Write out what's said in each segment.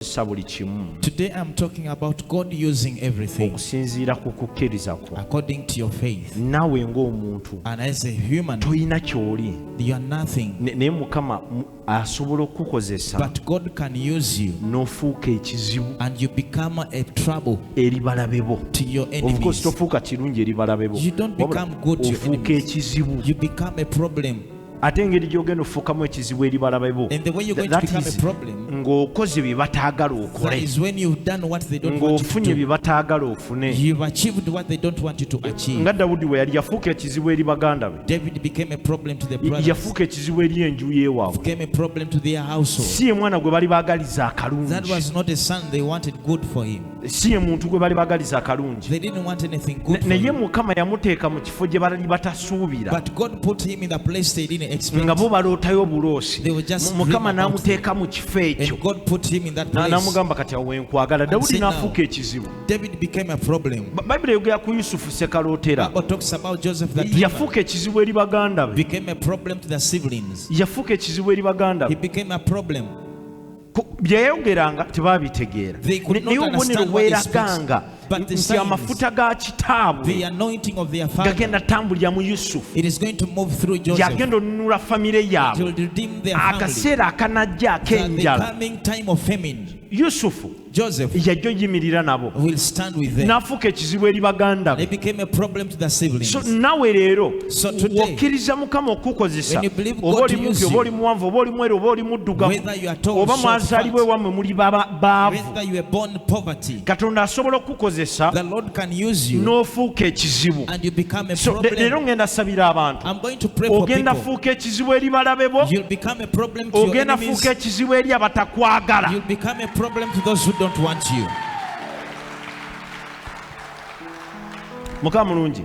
okukozesa buli kimu Today I'm talking about God using everything okusinziira ku kukkiriza kwo according to your faith. naawe ng'omuntu And as a human, tolina ky'oli you are nothing, Ne- naye mukama mu- asobola okukukozesa but God can use you n'ofuuka ekizibu and you become a trouble eri balabe bo to your of course enemies. tofuuka kirungi eri balabe bo You don't Wabula become good to your ofuuka enemies. ekizibu You become a problem ate engeri gyogenda ofuukamu ekizibu eri balabe bo ng'okoze bye bataagala okole ng'ofunye bye bataagala ofune nga dawudi we yali yafuuka ekizibu eri baganda be yafuuka ekizibu eri enju yewaabwe si ye mwana gwe bali baagaliza akalungi si ye muntu gwe bali bagaliza akalungi naye mukama yamuteeka mu kifo gye bali batasuubira nga bo balootayo obuloosi mukama n'amuteeka mu kifo ekyo n'amugamba kati awo wenkwagala dawudi n'afuuka ekizibu bayibuli eyogera ku yusufu sekalootera yafuuka ekizibu eri baganda be yafuuka ekizibu eri baganda be byeyayogeranga tebaabitegeera naye obubonero bweraganga nti amafuta ga kitaabwe gagenda tambulira mu yusufu yagenda onunula famire yaabwe akaseera akanajja ak'enjala yusufu yajja oyimirira nabo n'afuuka ekizibu eri baganda be nawe leero okkiriza mukama okukukozesa oba oli mumpi oba oli muwanvu oba oli mweru oba oli muddugavu oba mwazaalibwa ewammwe muli baavu katonda asobola okukukozesa n'ofuuka ekizibu leero ngenda sabira abantu ogenda fuuka ekizibu eri balabe bo ogenda fuuka ekizibu eri abatakwagala mukama mulungi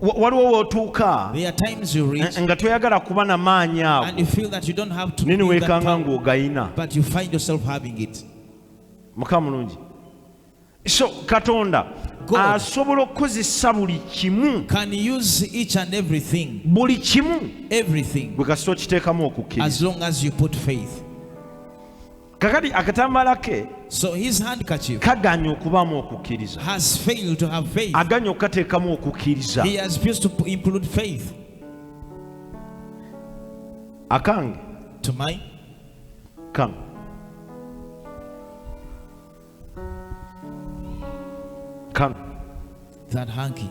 waliwo wotuuka eh, nga toyagala kuba na maanyi ago naye niweekanga ng'ogayina mukama mulungi so katonda asobola okukozesa buli kimu buli kimu bwe kasita okiteekamu okukkiriza kakati akatambaala ke so his handkerchief kaganye okubaamu okukkiriza has failed to have faith aganye okukateekamu okukkiriza he has refused to include faith akange to my come come that hanky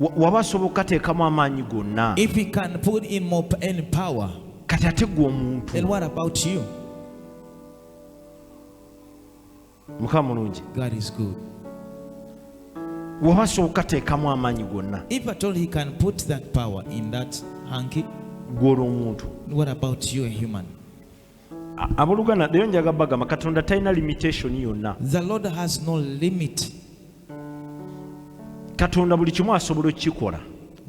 waba asoboka ateekamu amaanyi gonna kati ate gwe omuntu mukama mulungi waba asoboka ateekamu amaanyi gonna gw'olwo omuntu aboluganda leero njaga bagamba katonda talina limitation yonna the lord has no limit katonda buli kimu asobola okukikola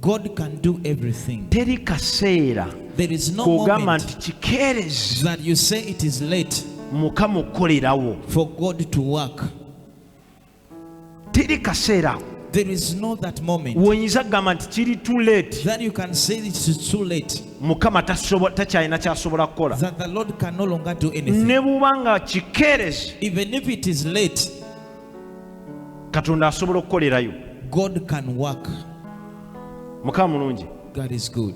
god can do everything teri kaseera there is no kogamba nti kikeerezi that you say it is late mukama okukolerawo for god to work teri kaseera ako There is no that moment woyinza kugamba nti kiri too late that you can say it is too late mukama tasobo- takyalina kyasobola kukola that the Lord can no longer do anything. ne buba nga kikeerezi Even if it is late, katonda asobola okukolerayo God can work. mukama mulungi God is good.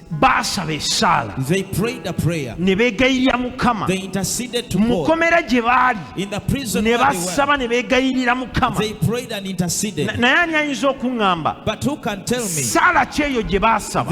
baasaba esaala ne beegayirira mukama mu komera gye baali ne basaba ne beegayirira mukama naye ani ayinza okuŋŋamba saala kyeyo gye baasaba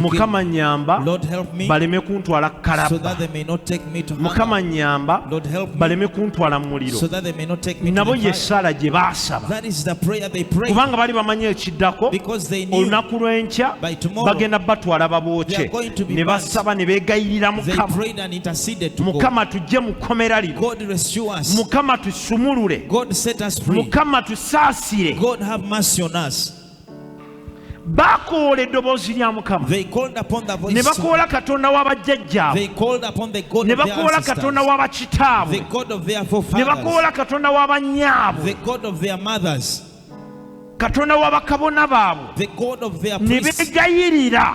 mukama nyamba baleme kuntwala kalaba mukama nyamba baleme kuntwala mu muliro nabo yesaala gye baasaba kubanga bali bamanyi ekiddako olunaku lw'enkya bagenda batwala babooke ne basaba ne beegayirira mukama mukama tujje mu kkomera lino mukama tusumulule mukama tusaasire baakoola eddoboozi lya mukama ne bakoola katonda wa bajjajjaabwe ne bakoola katonda wa bakitaabwe ne bakoola katonda wa bannyaabwe katonda wa bakabona baabwe ne beegayirira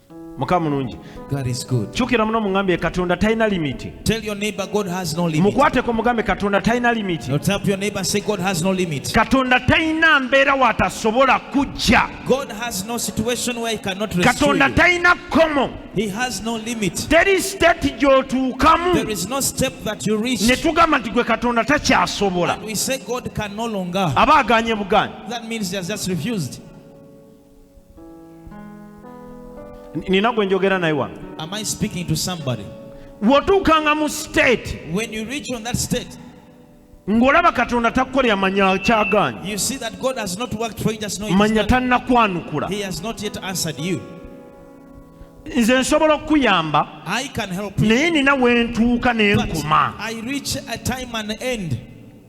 muka mulungi kyukira muno mugambye katonda talina limiti mukwateko mugambe katonda talina limiti katonda talina mbeera watasobola kujja katonda talina kkomo teri state gyotuukamu ne tugamba nti gwe katonda takyasobola aba aganye buganyi nina gwe njogera naye wano wotuukanga mu state ng'olaba katonda takukolera manya kyagaanyi manya tannakwanukula nze nsobola okukuyamba naye nina wentuuka nenkuma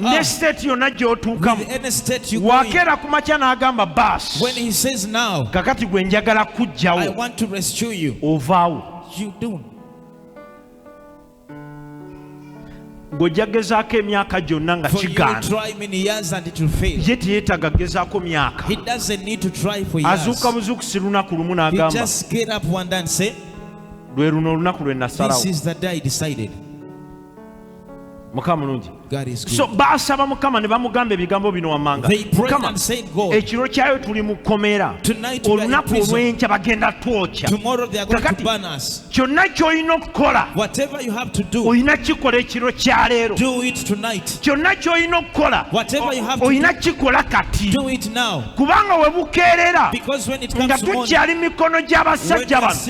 ne state yonna gyotuukamu wakeera ku makya n'agamba baasi kakati gwe njagala kujjawo ovaawo ng'ojja gezaako emyaka gyonna nga kigaana ye teyeetaaga gezaako myaka azuuka buzuukusi lunaku lumu n'agamba lwe luno olunaku lwe nasalawo mukama mulungi so baasaba mukama ne bamugamba ebigambo bino wammanga mukama ekiro kyayo tuli mu kkomera olunaku olw'enkya bagenda twokya kakati kyonna ky'olina okukola olina kikola ekiro kya leero kyonna ky'olina okukola olina kikola kati kubanga we bukeerera nga tukyali mikono gy'abasajja bano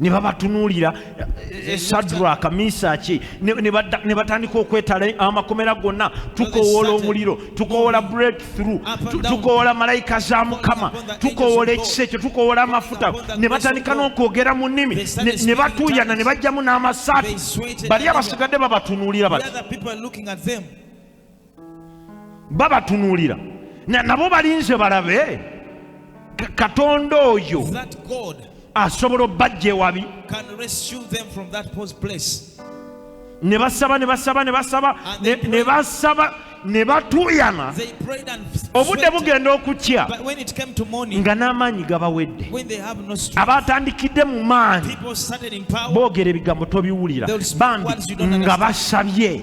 ne babatunuulira eh, eh, sadraka misaki ne batandika okwetala amakomera gonna tukowoola omuliro tukowoola breakthrough tukowoola malayika za mukama tukowoola ekisa ekyo tukowoola amafuta ne batandika n'okwogera mu nnimi ne batuuyana ne bajjamu n'amasaati bali abasigadde babatunuulira bati babatunulira nabo balinze balabe katonda oyo asobola obbajja ewabi ne basaba ne basaba ne basaba ne basaba ne batuuyana obudde bugenda okukya nga n'amaanyi gabawedde abaatandikidde mu maanyi boogera ebigambo tobiwulira bambi nga basabye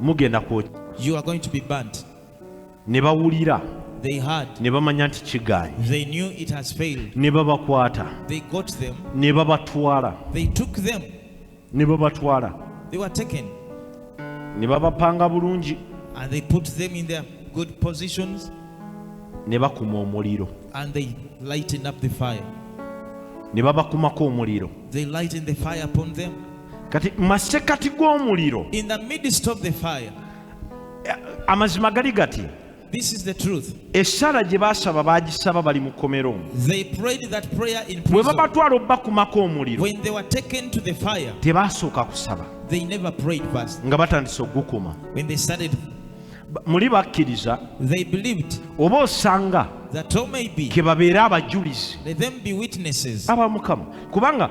mugenda kwokya you are going to be burnt ne bawulira they heard ne bamanya nti kigaanyi they knew it has failed ne babakwata they got them ne babatwala they took them ne babatwala they were taken ne babapanga bulungi and they put them in their good positions ne bakuma omuliro and they lightened up the fire ne babakumako omuliro they lightened the fire upon them kati masekati g'omuliro in the midst of the fire eh, amazima gali gati This is the truth. Esala gye baasaba baagisaba bali mu kkomero. They prayed that prayer in prison. Bwe babatwala obubakumako omuliro. When they were taken to the fire. Tebaasooka kusaba. They never prayed first. Nga batandise okugukuma. When they started muli bakkiriza oba osanga kebabeere abajulizi aba mukama kubanga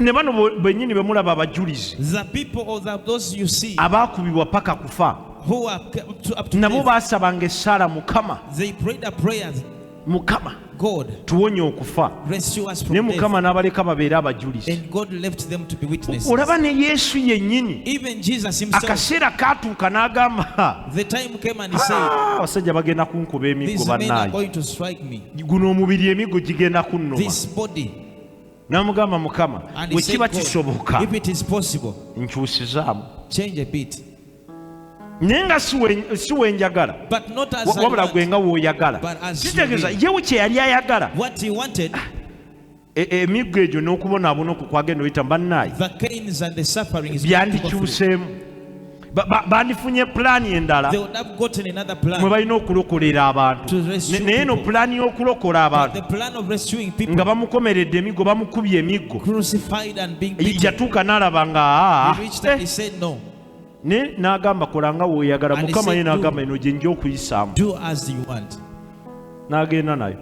ne bano benyini bemulaba abajulizi abaakubibwa paka kufa nabo baasabanga essaala mukama mukama tuwonye okufa naye mukama n'abaleka babeere abajulizi olaba ne yesu yennyini akaseera kaatuuka n'agamba ah, abasajja bagenda kunkuba emiggo bannaye guno omubiri emiggo gigenda kunnuma n'amugamba mukama bwe kiba kisoboka nkyusizaamu naye nga si wenjagala wabula gwe nga woyagala kitegeeza yewo kye yali ayagala ah, e, e, emiggo egyo n'okubonaabona okwo kwagenda oyita bannaayi byandikyuseemu bandifunye pulaani endala mwe balina okulokolera abantu naye eno pulaani y'okulokola abantu nga bamukomeredde emiggo bamukubye emiggo yatuuka n'alaba nga ah, ah. naye n'agamba kola nga woyagala mukama ye n'agamba eno gye nja okuyisaamu n'agenda nayo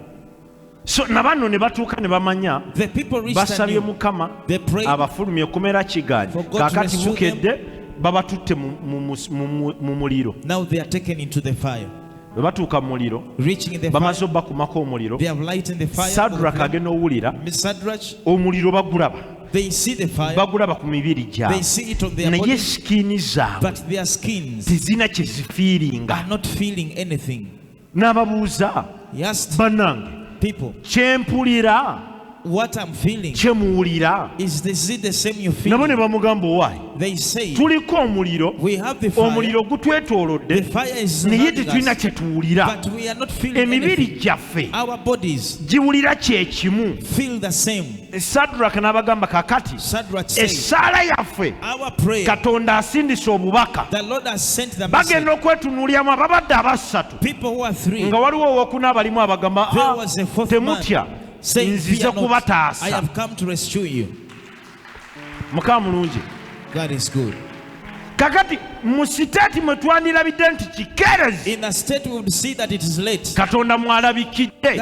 so na banno ne batuuka ne bamanya The people reached and basabye knew. mukama They prayed. abafulumye kumera kigaanyi For God to kaakati rescue bukedde babatutte mu- mu- mu- mu- mu- mu muliro Now they are taken into the fire. bwe batuuka mu muliro Reaching in the bamaze fire, obakumako omuliro they have light in the fire. sadraka agenda owulira Miss Sadrach, omuliro bagulaba they see the fire, bagulaba ku mibiri they gyabwe see it on their naye body, sikini zaabwe but their skins tezirina kye zifiiringa are not feeling anything. n'ababuuza bannange kyempulira what I'm feeling kye muwulira is this it the same you feel nabo ne bamugamba owaye they say tuliko omuliro we have the fire omuliro gutwetoolodde fire is naye tetulina kye tuwulira but we are not feeling emibiri gyaffe our bodies giwulira kye kimu feel the same sadraka n'abagamba kakati essaala yaffe katonda asindise obubaka bagenda okwetunuulyamu ababadde abassatu nga waliwo owokuna abalimu abagamba ah, temutya nzize kubataasa mukama mulungi kakati mu siteeti mwe twandirabidde nti kikeerezi katonda mwalabikidde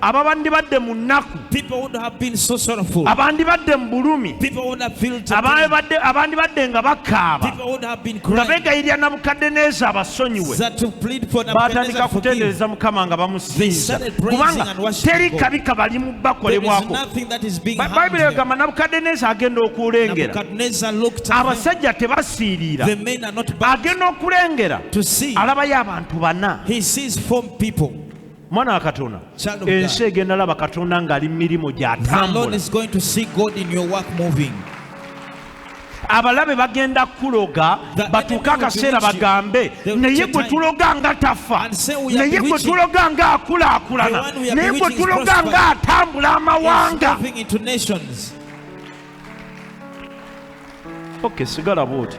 ababandibadde mu nnaku abandibadde mu bulumi abandibadde nga bakaaba nga begayirira nabukaddeneeza abasonyiwe baatandika kutendereza mukama nga bamusinza kubanga teri kabi kabalimu bakolebwako bayibuli egamba nabukaddeneeza agenda okulengera abasajja tebasiiriira agenda okulengera alabayo abantu bana mwana wa katonda ensi egenda laba katonda ng'ali mu mirimu gy'atambula abalabe bagenda kuloga batuuke akaseera bagambe naye gwe tuloga nga tafa naye gwe tuloga nga akulaakulana naye gwe tuloga nga atambula amawanga oke sigala bwoti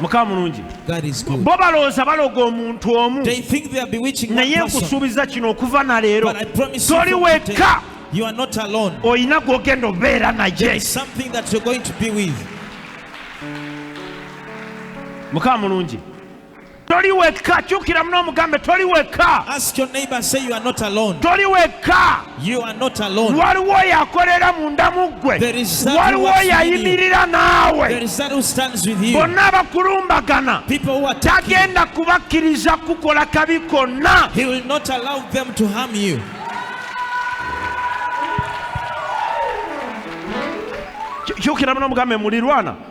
mukama mulungi bo balowooza baloga omuntu omu naye nkusuubiza kino okuva na leero toli wekka olina gwogenda obeera naye mukama mulungi toli wekka kyukira muno omugambe toli wekka toli wekka waliwo oyo akolera munda mu ggwe waliwo oyo ayimirira naawe bonna abakulumbagana tagenda kubakkiriza kukola kabi konna kyukira muno omugambe mulirwana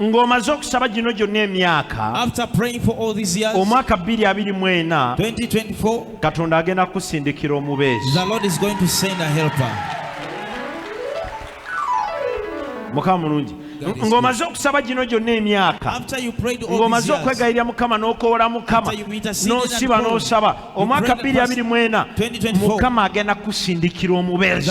ng'omaze okusaba gino gyonna emyaka omwaka 224 katonda agenda kukusindikira omubeezi mukama mulungi ng'omaze okusaba gino gyonna emyaka ng'omaze okwegayirira mukama n'okoola mukama n'osiba n'osaba omwaka 224 mukama agenda kukusindikira omubeezi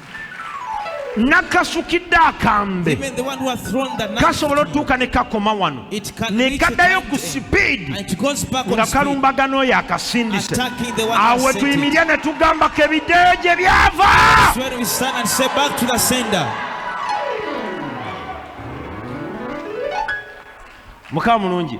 nakasukidde akambe kasobola otuuka ne kakoma wano ne kaddayo ku sipiidi nga kalumbagana oyo akasindise awo wetuyimirya ne tugambako ebiddeyo gye byava mukama mulungi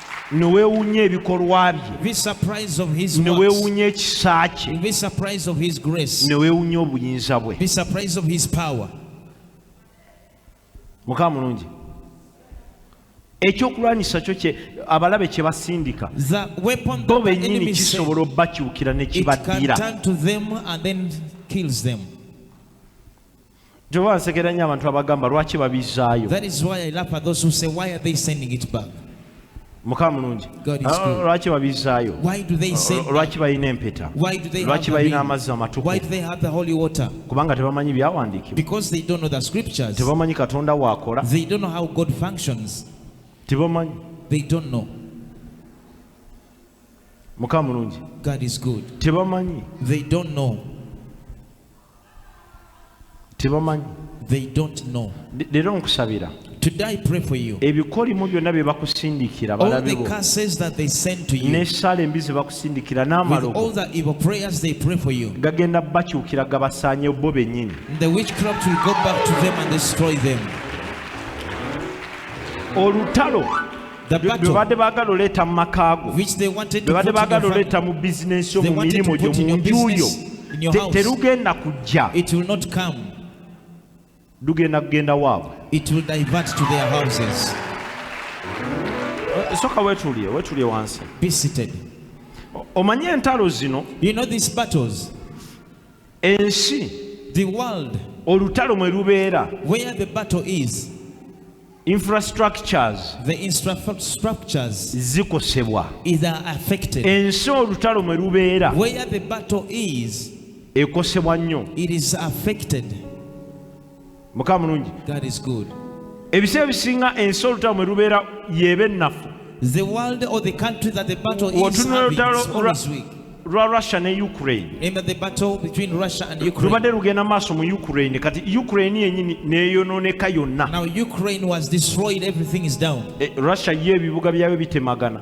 ne weewuunya ebikolwa bye Be surprised of his ne works. weewuunya ekisa kye Be surprised of his grace. ne weewuunya obuyinza bwe Be surprised of his power. mukama mulungi ekyokulwanyisa kyo kye abalabe kye basindika The weapon bo that the bennyini enemy sends, kisobola obakyukira ne it can kibaddira turn to them and then kills them. Jehova nsekera nnyo abantu abagamba lwaki babizaayo. That is why I laugh at those who say why are they sending it back? mukama mulungi ah, lwaki babizaayo ah, lwaki balina empeta lwaki balina amazzi amatukukubanga tebamanyi byawandiikibwa tebamanyi katonda waakola tebamanyi mukama mulungi tebamanyi tebamanyi they don't know leero nkusabira Today I pray for you. ebikolimo byonna bye bakusindikira All the balabibo curses that they send to you, n'essaala embi ze bakusindikira with all n'amalogo the evil prayers they pray for you, gagenda bakyukira gabasaanyewo bo bennyini the witchcraft will go back to them and destroy them. olutalo bebadde baagala oleeta mu maka go bebadde baagala oleeta mu bizinensi yo mu mirimu gyo mu nju yo terugenda kujja lugenda kugenda waabwe soka wetulie wetulie wansi omanyi entalo zino you know these battles ensi the world olutalo mwe lubeera where the battle is infrastructures the infrastructures zikosebwa is affected ensi olutalo mwe lubeera where the battle is ekosebwa nnyo it is affected mukama mulungi ebiseera ebisinga ensi olutalo mwe lubeera yeeba ennafu otunula olutalo lwa russia ne ukraine lubadde lugenda mu maaso mu ukraine kati ukraine yenyini neyonooneka yonna eh, russia ye ebibuga byayo bitemagana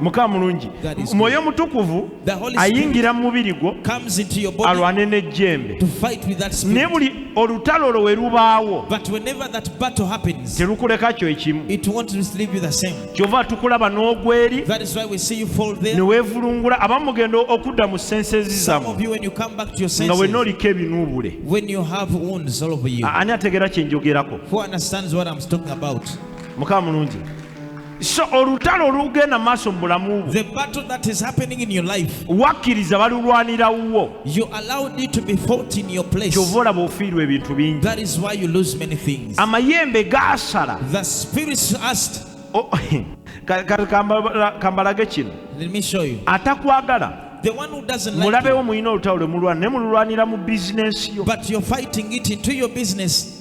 mukama mulungi mwoyo mutukuvu ayingira mu mubiri gwo alwane n'ejjembe naye buli olutalo olwo we lubaawo terukuleka kyo ekimu kyova tukulaba n'ogweri ne weevulungula abamu mugenda okudda mu senses zamu nga wenna oliko ebinuubule ani ategeera kye njogerako mukama mulungi so olutalo olugenda maaso mu bulamu bwo wakkiriza balulwanira wuwo kyova olaba ofiirwa ebintu bingi amayembe gaasala kambalage kino atakwagala mulabewo mulina olutalo lwe mulwana naye mululwanira mu bizinensi yo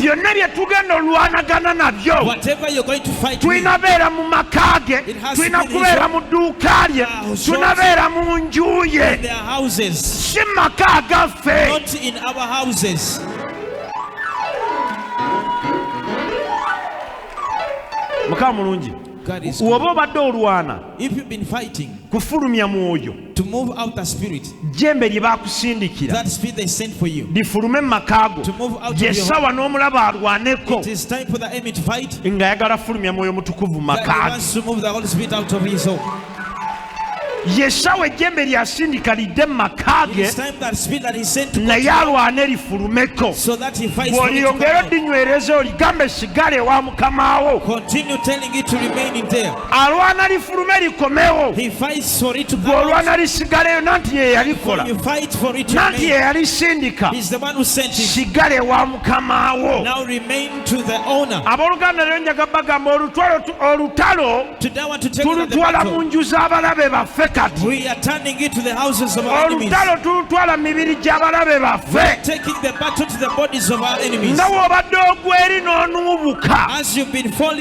byonna bye tugenda olwanagana nabyo tulina beera mu maka ge tulina kubeera mu dduuka lye tulina beera mu nju ye si maka gaffe mukama mulungi woba obadde olwana kufulumya mwoyo to move out the spirit jembe lye bakusindikira that spirit they sent for you lifulume mu maka go yesawa n'omulaba alwaneko it is time for the enemy to fight nga ayagala fulumya mwoyo mutukuvu maka yesawa ejjembe lyasindika lidde mu maka ge naye alwane lifulumeko bw'oliyongera odinywereza oligamba esigale ewa mukama wo alwana lifulume likomewo gwolwana lisigaleyo nanti yeyalikola nanti yeyalisindika sigale wa mukama wo abooluganda lero njaga bagamba olutalo tulutwala mu nju z'abalabe baffe kati olutalo tulutwala mu mibiri gy'abalabe baffe nga w'obadde ogweri n'onuubuka